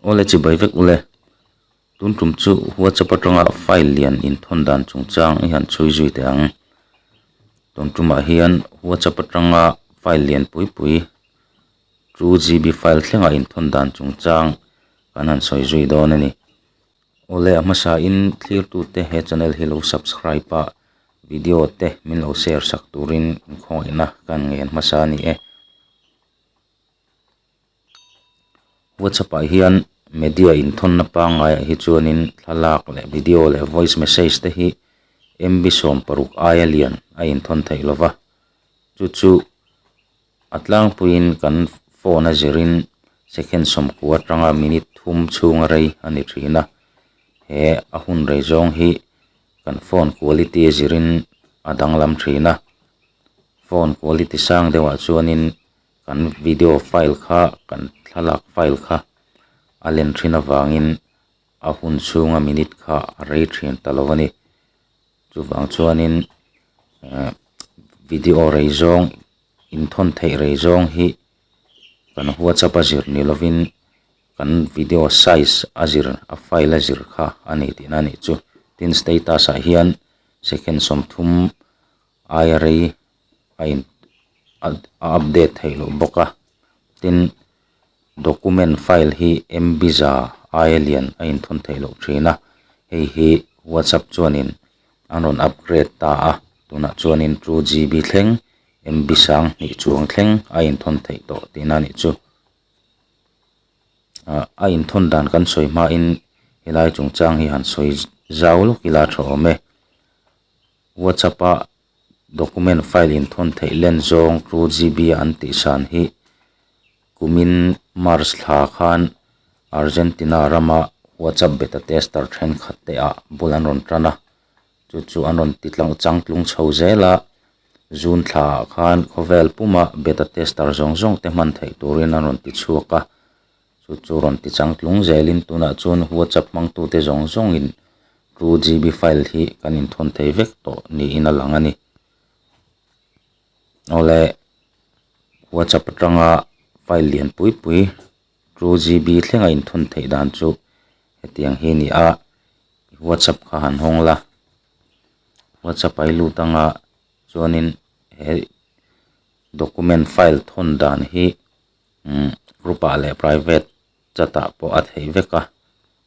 Aw le chibai vek u le. Tun tum chu WhatsApp atanga file lian inthawn dan chungchang i han chhui zui teh ang. Tawn tumah hian WhatsApp atanga file lian pui pui chu GB file thlengah inthawn dan chungchang kan han sawi zui dawn a ni. Aw le a hmasa in thlirtute he channel hi lo subscribe a, video te min lo share sak turin inkhawngaihnaa ka han ngei an hmasa a ni e. WhatsApp ah hian media inthawna pangai ah hi chuanin thlalak leh video leh voice message te hi MB sawm paruk aia lian a inthawn theih lo va, chu chu a tlangpuiin kan phone a zirin second sawmkû atanga minute thum chhunga rei a ni thin a. He a hun rei zawng hi kan phone quality a zirin a danglam thin a. Phone quality sang deuhah chuanin Kan video file kha, kan thlalak file kha a len thin avangin a hun chhunga minute kha a rei thin ta lo a ni. Chuvang chuanin ehh video rei zawng, inthawn theih rei zawng hi kan whatsapp a zir ni lovin kan video size a zir, a file a zir kha a ni tihna a nih chu. Tin status ah hian second sawmthum. aia rei a in a update theih loh bawk a tin document file hi mbiza aia lian a in thawn theih loh thin a hei hi whatsapp chuanin an rawn upgrade ta a tunah chuanin two GB thleng mb sang hnih chuang thleng a in thawn theih tawh tihna a nih chu ah a in thawn dan kan sawi hmain helai chungchang hi han sawi zau lawk ila tha awm e. WhatsApp ah document file in thawn theih len zawng two GB a an tih san hi kumin March thla khan Argentina ram ah WhatsApp beta tester thenkhat te ah bul an rawn tan a, chu chu an rawn ti tlang chang tlung chho zel a, June thla ah khan khawvel pum ah beta tester zawng zawng te hman theih turin an rawn ti chhuak a, chu chu rawn ti chang tlung zelin tunah chuan whatsapp hmangtute zawng zawngin two GB file hi kan inthawn thei vek tawh niin a lang a ni awle whatsapp atanga file lian pui pui two GB thlenga inthawn theih dan chu hetiang hi a ni a whatsapp kha han hawng la whatsapp a i lut anga chuanin he document file thawn dan hi umm group ah leh private chat ah pawh a theih vek a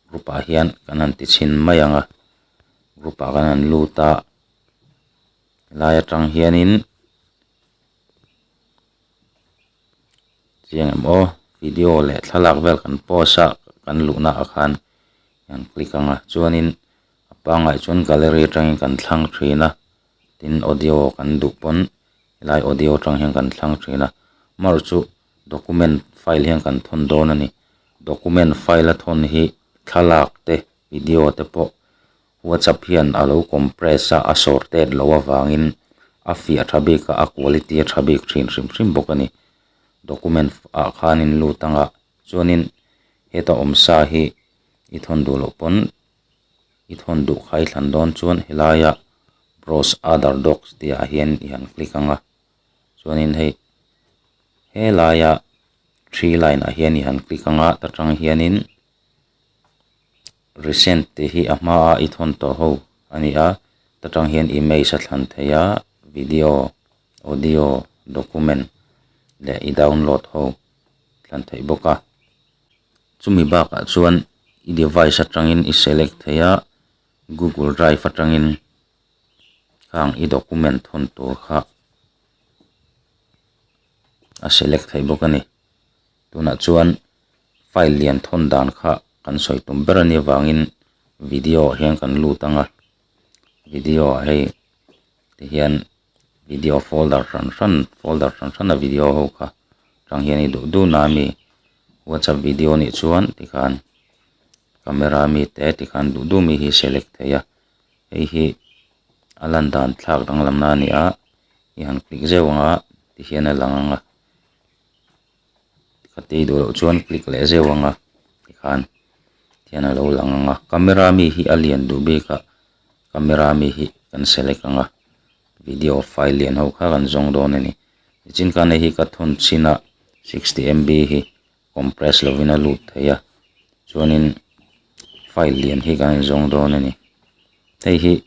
group ah hian kan han ti chhin mai ang a group ah kan han lut a helai atang hianin chiang em aw video leh thlalak vel kan post a kan luhna ah khan eng click ang a chuanin a pangai ah chuan gallery atangin kan thlang thin a. tin audio kan duh pawn helai audio atang hian kan thlang thin a mar chu document file hian kan thawn dawn a ni document file a thawn hi thlalak te video te pawh whatsapp hian a lo compress a a sortet loh avangin a fiah tha bik a a quality a tha bik thin hrim hrim bawk a ni document ah khanin lut ang a chuanin heta awm sa hi i thawn duh loh pawn. i thawn duh kha i thlan dawn chuan helaia browse other docs tih ah hian i han click ang a chuanin hei helaia three line ah hian i han click ang a ta tang hianin recent tih hi a hma a i thawn tawh ho a ni a ta tang hian image a thlan thei a video audio document leh i download ho thlan theih bawk a. Chumi bakah chuan i device atangin i select theih a, Google Drive atangin khang i document thawn tur kha a select theih bawk a ni. Tunah chuan file lian thawn dan kha kan sawi tum ber a nia vangin video ah hian kan lut ang a, video ah hei tihian-- video folder hran hran folder hran hrana video ho kha tang hian i duh duh na a mi whatsapp video a nih chuan tikhan camera a mi te tikhan duh duh mi hi select theih a hei hi a lan dan thlak danglam na a ni a i han click zeuh ang a tihian a lang ang a. ka tei duh loh chuan click leh zeuh ang a tikhan khian a lo lang ang a camera mi hi a lian duh bik a camera mi hi kan select ang a video file lian ho kha kan zawng dawn a ni tichin khan heihi ka thun chin a sixty MB hi compress lovin a lut theih a chuanin file lian hi kan zawng dawn a ni hei hi--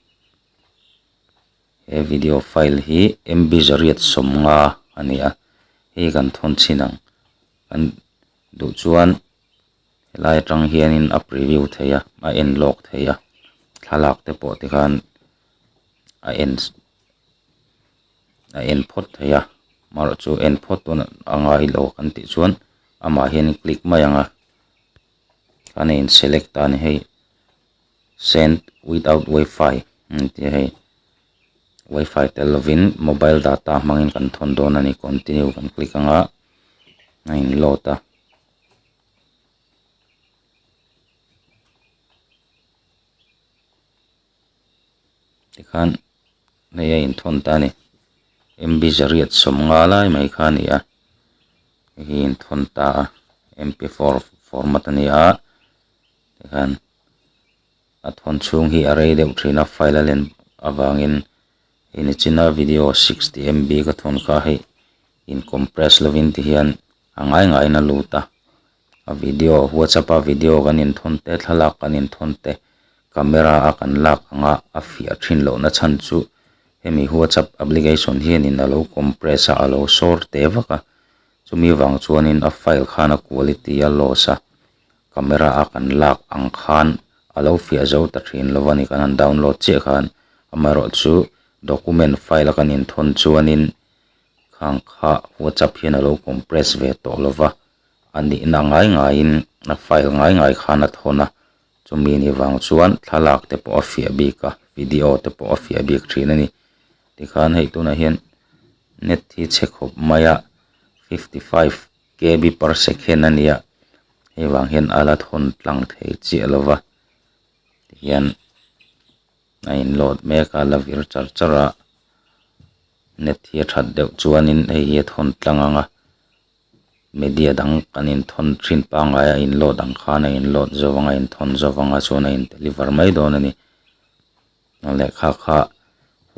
he video file hi M_B zariat sawmnga a ni a hei hi kan thawn chhin ang kan duh chuan he lai atang hian in a preview thei a a en lawk thei a thlalak te pawh te khan a en a en phawt thei a amarawh chu en phawt dawn a ngai lo kan tih chuan amah hian click mai ang a kan a inselect a ni hei. Send without WiFi an tia hei WiFi tel lovin mobile data hmangin kan thawn dawn a ni continue kan click anga a in load a tikhan hei a in thawn ta a ni MB zariat sawm nga lai mai kha a ni a hei hi a in thawn ta a MP4 format a ni a. tikhan a thawn chhung hi a rei deuh thin a file a len avangin hei ni chin a video sixty MB ka thawn kha hei in compress lovin ti hian a ngai ngai in a lut a a video whatsapp a video kan in thawn te thlalak kan in thawn te camera a kan lak anga a fiah thin loh na chhan chu hemi whatsapp application hianin a lo compress a a lo sawr teh vak a chumi vang chuan in a file khan a quality a loss a. camera a kan lak ang khan a lo fiah zo ta thin lo va ni, kan han download chiah khan amaherawh chu document file a kan in thawn chuanin khang kha WhatsApp hian a lo compress ve tawh lo va, a nihna ngai ngaiin a file ngai ngai khan a thawn a, chumi ni vang chuan thlalak te pawh a fiah bik a, video te pawh a fiah bik thin a ni. Tikhan hei tunah hian net hi che khawp maia fifty five kb per second a nia hei vang hian a la thawn tlang thei chiah lo va tihian a in load mek a a la vir char char a net hi a that deuh chuanin hei hi a thawn tlang ang a media dang kan in thawn thin pangai a in load ang khan a in load zo vang a in thawn zo vang a chuan a in deliver mai dawn a ni. Kan lehkha kha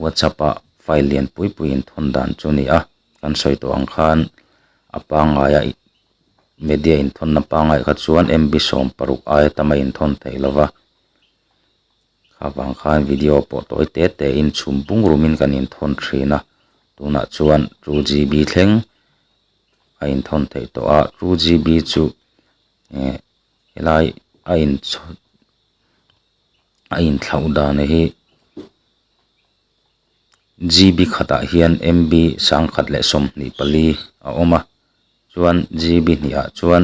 WhatsApp ah file lian pui pui in thawn dan chu a ni a, kan sawi tawh ang khan a pangngai a media in thawn na pangngai kha chuan MB sawm paruk aia tam a in thawn theih lo va, kha vang khan video a pawh tawi te te in chhum bungraw min kan in thawn thin a, tunah chuan two GB thleng a in thawn theih tawh a, two GB chu eh helai a in chhawn. a in thlauh dan hi G B khat ah hian M B sang khat leh sawmhnih pali a awm a chuan G B hnih ah chuan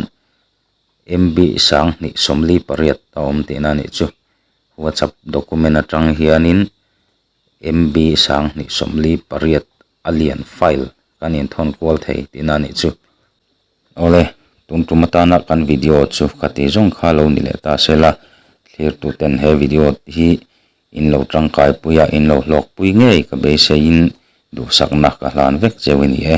M B sang hnih sawmli pariat a awm tih na nih chu whatsapp document atang hian in M B sang hnih sawmli pariat a lian file kan in thawn kual thei tih na nih chu-- Awle, tun tum atana kan video chu ka ti zawng kha lo ni leh ta se la, thlirtu ten he video hi in lo tangkai pui a, in lo hlawk pui ngei ka beiseiin duhsakna ka hlan vek cheu i ni e.